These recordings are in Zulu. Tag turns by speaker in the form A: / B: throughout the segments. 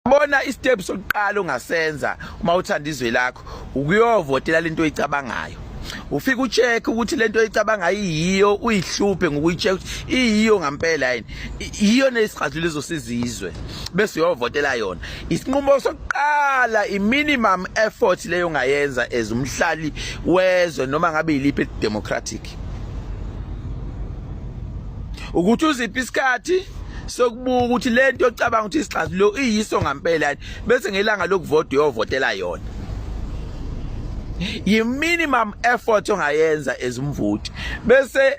A: Bona istep sokuqala ongasenza uma uthanda izwe lakho ukuyovotela lento oyicabangayo. Ufika ucheck ukuthi lento oyicabangayo iyiyo uyihluphe ngokuyicheck iyiyo ngampela yini. Iyiyo nesixazululo ezosiza izwe bese uyovotela yona. Isinqumo sokuqala iminimum effort leyo ngayenza ezumhlali wezwe noma ngabe yiliphi democratic. ukuthi uziphi isikhathi sokubuka ukuthi lento ocabanga ukuthi isixazululo iyiso ngampela bese ngelanga lokuvota uyovotela yona yi minimum effort ongayenza ezimvuthi bese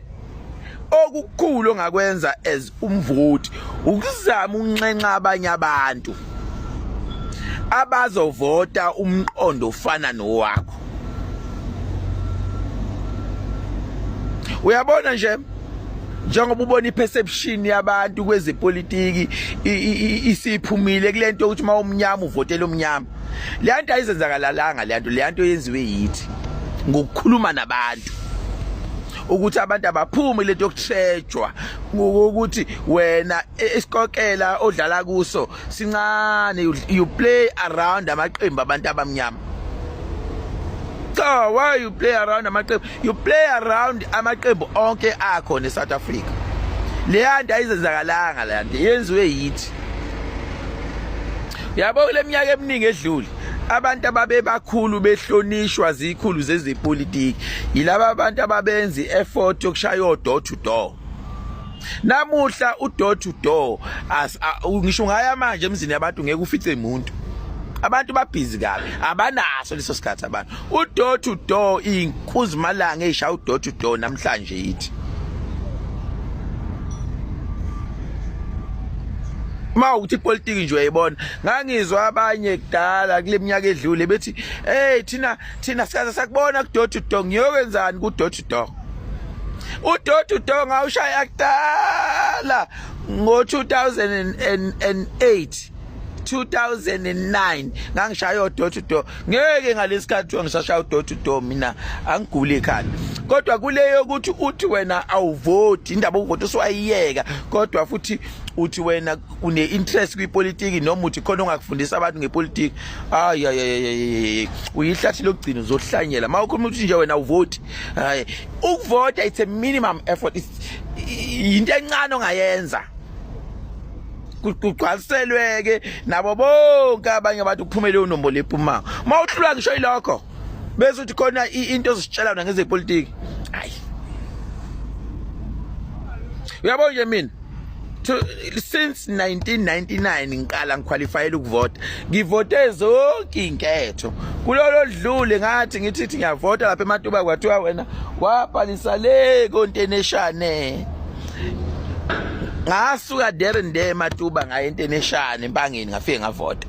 A: okukhulu ongakwenza as umvoti ukuzama unxenxa abanye abantu abazovota umqondo ofana nowakho uyabona nje njengoba ubona iperception yabantu kwezepolitiki isiphumile kulento ukuthi uma umnyama uvotela umnyama le nto ayizenzakalalanga le nto le nto yenziwe yithi ngokukhuluma nabantu ukuthi abantu abaphume lento yokuthejwa ukuthi wena isikokela odlala kuso sincane you play around amaqembu abantu abamnyama cha why you play around amaqembu you play around amaqembu onke akho ne South Africa leya nto ayizenzakalanga leya nto yenziwe yithi yabo kule minyaka eminingi edlule abantu ababebakhulu behlonishwa zikhulu zezepolitiki yilaba abantu ababenza i-effort yokushaya odoor to door namuhla udoor to door ngisho ngaya manje emzini yabantu ngeke ufice muntu abantu babhizi kabi abanaso leso sikhathi abantu udoor to door inkuzimalanga eyishaya udoor to door namhlanje yithi ma ukuthi ipolitiki nje uyayibona ngangizwa abanye kudala kule minyaka edlule bethi hey thina thina sikaze sakubona kudoor to door ngiyokwenzani kudoor to door udoor to door ngawushaya kudala ngo-2008 2009 ngangishaya odoor to door ngeke ngalesikhathi kuthiwa ngisashaya odoor to door mina angiguli ekhanda kodwa kuleyo ukuthi uthi wena awuvoti indaba ukuvota uswayiyeka kodwa futhi uthi wena une interest kwipolitiki noma uthi khona ongakufundisa abantu ngepolitiki hayi ayayayay uyihlathi lokugcina uzohlanyela uma ukhuluma ukuthi nje wena uvoti hayi ukuvota it's a minimum effort into encane ongayenza kugcwaliselweke nabo bonke abanye abantu kuphume leyo nombolo ephumayo uma uhlulwa ngisho ilokho bese uthi khona into ezisitshela wona ngezepolitiki hayi uyabo nje mina since 1999 ngiqala ngiqualifyela ukuvota ngivote zonke inketho kulolo dlule ngathi ngithi ngiyavota lapha ematuba kwathiwa wena wabhalisa le konteneshane ngasuka there and there matuba ngaye into eneshana empangeni ngafike ngavota